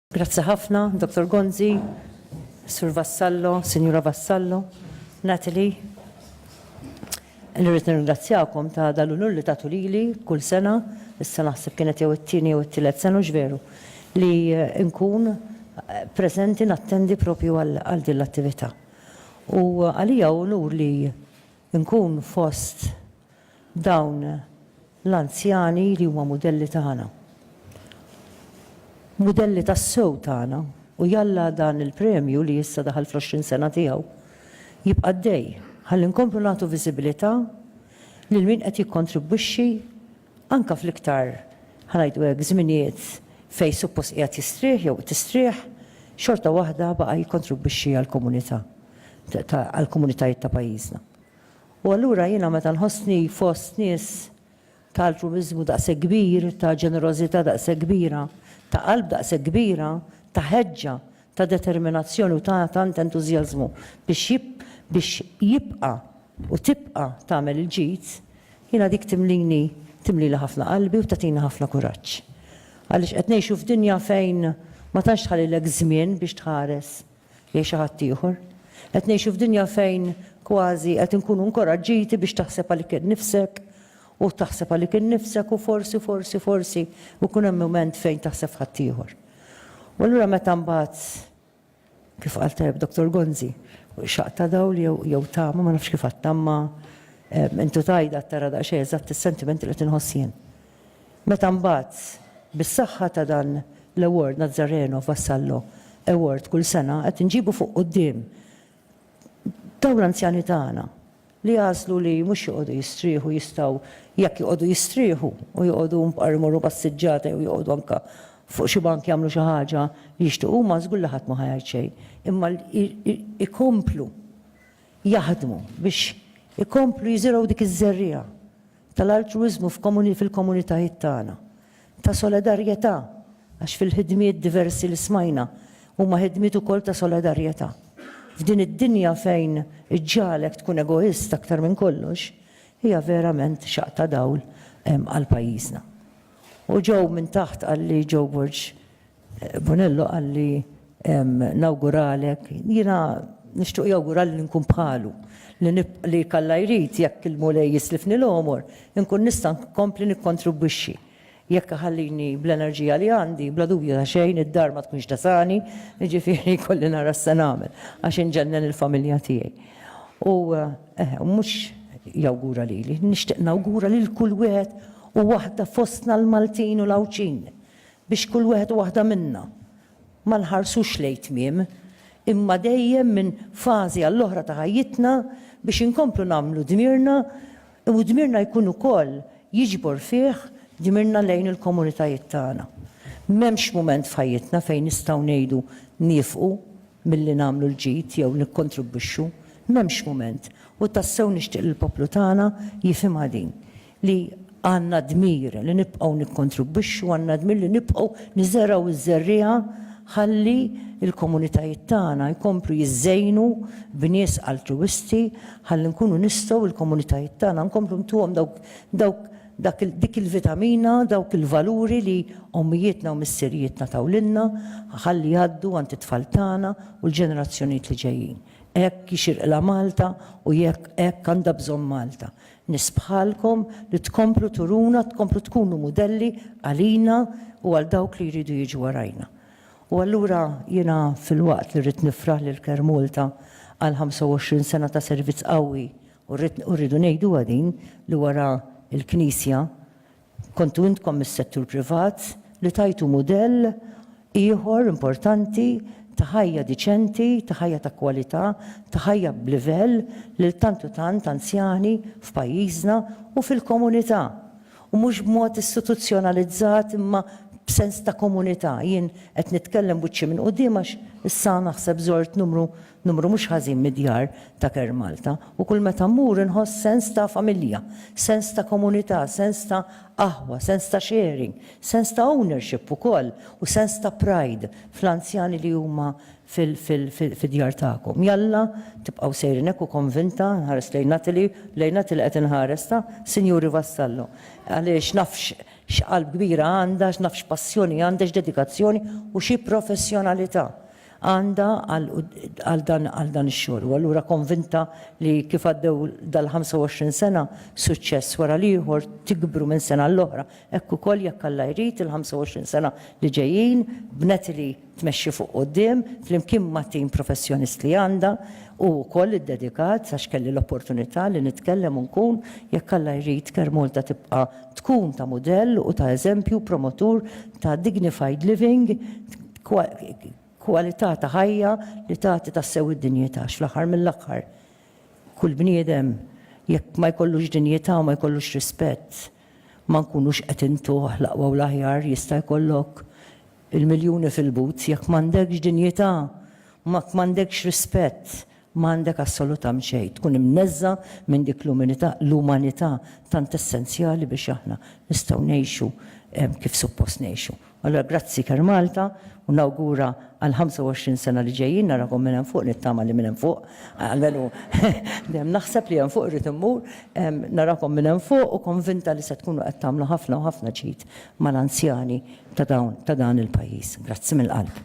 Grazzi ħafna, Dottor Gonzi, Sur Vassallo, Sinjura Vassallo, Natalie. Nirrid nirringrazzjakom ta' dal-unur li tagħtu lili kull sena, issa naħseb kienet jew it-tieni jew it-tielet sena hux veru, li nkun preżenti nattendi propju għal din l-attività. U għalija hu unur li nkun fost dawn l-anzjani li huma mudelli tagħna, mudelli tassew tagħna, u jalla dan il-premju li issa daħal fl-għoxrin sena tiegħu jibqa' għaddej ħalli nkomplu nagħtu viżibilità lil min qed jikkontribwixxi anke fl-iktar, ħa ngħidu hekk, żminijiet fejn suppost qiegħed jistrieħ jew tistrieħ, xorta waħda baqa' jikkontribwixxi għall-komunità, għall-komunitajiet ta' pajjiżna. U allura jiena meta nħossni fost nies ta' altruwiżmu daqshekk kbir, ta' ġenerożità daqshekk kbira, ta' qalb daqshekk kbira, ta' ħeġġa, ta' determinazzjoni u ta' tant entużjażmu biex biex jibqa' u tibqa' tagħmel il-ġid, jiena dik timlini timlili ħafna qalbi u tagħtini ħafna kuraġġ. Għaliex qed ngħixu f'dinja fejn ma tantx tħallilek żmien biex tħares lejn xi ħadd ieħor. Qed ngħixu f'dinja fejn kważi qed inkunu nkoraġġiti biex taħseb għalik innifsek u taħseb għalik innifsek u forsi, forsi, forsi jkun hemm mument fejn taħseb f'ħadd ieħor. U allura meta mbagħad kif qal tajjeb Dottor Gonzi, xaq ta' dawl jew tama ma nafx kif għattamma intu tajda tara daqsxejn eżatt is-sentimenti li tinħossien. Meta mbagħad, bis-saħħa ta' dan l-award Nazzareno Vassallo Award kull sena qed inġibu fuq quddiem dawn l-anzjani tagħna li għażlu li mhux joqogħdu jistrieħu jistgħu jekk joqogħdu jistrieħu u joqogħdu mbqar imorru passiġġata jew joqogħdu anke fuq xi bank jagħmlu xi ħaġa li jixtiequ huma żgur li ħadd ma ħa jgħid xejn imma jkomplu jaħdmu biex ikomplu jiżirgħu dik iż-żerriegħa tal-altruwiżmu fil-komunitajiet tagħna, ta' solidarjetà, għax fil-ħidmiet diversi li smajna huma ħidmiet ukoll ta' solidarjetà. F'din id-dinja fejn iġġagħlek tkun egoist aktar minn kollox, hija verament xaqq ta' dawl għal pajjiżna. U Joe minn taħt qalli, Joe Borg, Bonello qalli nawguralek, jiena nixtiequ jawgurali li nkun bħalu, li jekk Alla jrid, jekk il-Mulej jislifni l-għomor, inkun nista' nkompli nikkontribwixxi. Jekk iħallini bl-enerġija li għandi, bla dubju ta' xejn, id-dar ma tkunx tesani, jiġifieri jkolli nara x'se nagħmel, għax inġennen il-familja tiegħi. U mhux jawgura lili, nixtieq nawgura lil kull wieħed u waħda fostna l-Maltin u l-Għawdxin. biex kull wieħed u waħda minna ma nħarsux lejn tmiem, imma dejjem minn fażi għall-oħra ta' ħajjitna biex inkomplu nagħmlu dmirna u dmirna jkun ukoll jiġbor fih dmirna lejn il-komunitajiet tagħna. M'hemmx mument f'ħajjitna fejn nistgħu ngħidu niefqu milli nagħmlu l-ġid jew nikkontribwixxu, m'hemmx mument, u tassew nixtieq li l-poplu tagħna jifhimha din, li għandna d-dmir li nibqgħu nikkontribwixxu, għandna d-dmir li nibqgħu niżergħu ż-żerriegħa ħalli l-komunitajiet tagħna jkomplu jiżżejnu b'nies altruwisti, ħalli nkunu nistgħu l-komunitajiet tagħna nkomplu ntuhom dawk Dak, dik il-vitamina, dawk il-valuri li ommijietna u missirijietna taw lilna, ħalli jgħaddu għand it-tfal tagħna u l-ġenerazzjonijiet li ġejjin. Hekk jixirqilha Malta u jekk, hekk għandha bżonn Malta. Nies bħalkom li tkomplu turuna, tkomplu tkunu mudelli għalina u għal dawk li jridu jiġu warajna. U allura jiena filwaqt li rrid nifraħ lil CareMalta għal 25 sena ta' servizz qawwi U rridu ngħiduha din li wara l-Knisja kontu intkom mis-settur privat li tajtu mudell ieħor importanti ta' ħajja diċenti, ta' ħajja ta' kwalità, ta' ħajja b'livell lil tant u tant anzjani f'pajjiżna u fil-komunità. U mhux b'mod istituzzjonalizzat imma b'sens ta' komunità. Jien qed nitkellem wiċċi minn quddiem għax issa naħseb żort numru Numru mhux ħażin mid-djar ta' Care Malta u kull meta mmur inħoss sens ta' familja, sens ta' komunità, sens ta' aħwa, sens ta' sharing, sens ta' ownership ukoll u sens ta' pride fl-anzjani li huma fid-djar tagħkom. Jalla tibqgħu sejrin hekk u konvinta, nħares lejn Natalie, lejn Natalie qed inħares, ta' Sinjuri Vassallo, għaliex naf x'qalb kbira għandha, naf x'passjoni għandha, x'dedikazzjoni u xi professjonalità għandha għal dan ix-xogħol u allura konvinta li kif għaddew dal-25 sena, suċċess wara l-ieħor, tikbru minn sena għal oħra, hekk ukoll jekk Alla jrid il-25 sena li ġejjin b'Natalie tmexxi fuq quddiem flimkien mat-tim professjonist li għandha u wkoll iddedikat għax kelli l-opportunità li nitkellem u nkun, jekk Alla jrid Caremalta tibqa' tkun ta' mudell u ta' eżempju promotur ta' dignified living, kwalità ta' ħajja li tagħti tassew id-dinjità għax fl-aħħar mill-aħħar kull bniedem jekk ma jkollux dinjità u ma jkollux rispett ma nkunux qed intuh l-aqwa u l-aħjar jista' jkollok il-miljuni fil-but jekk m'għandekx dinjità u jekk m'għandekx rispett M'għandek assolutamnt xejn tkun imneżża' minn dik l-uminità, l-umanità tant essenzjali biex aħna nistgħu ngħixu kif suppost ngħixu. Allura grazzi Care Malta u nawgura għall-25 sena li ġejjin narakom minn hemm fuq nittama li minn hemm fuq, almenu dejjem naħseb li hemm fuq irrid immur, narakom minn hemm fuq u konvinta li se tkunu qed tagħmlu ħafna u ħafna ġid mal-anzjani ta' dawn ta' dan il-pajjiż. Grazzi mill-qalb.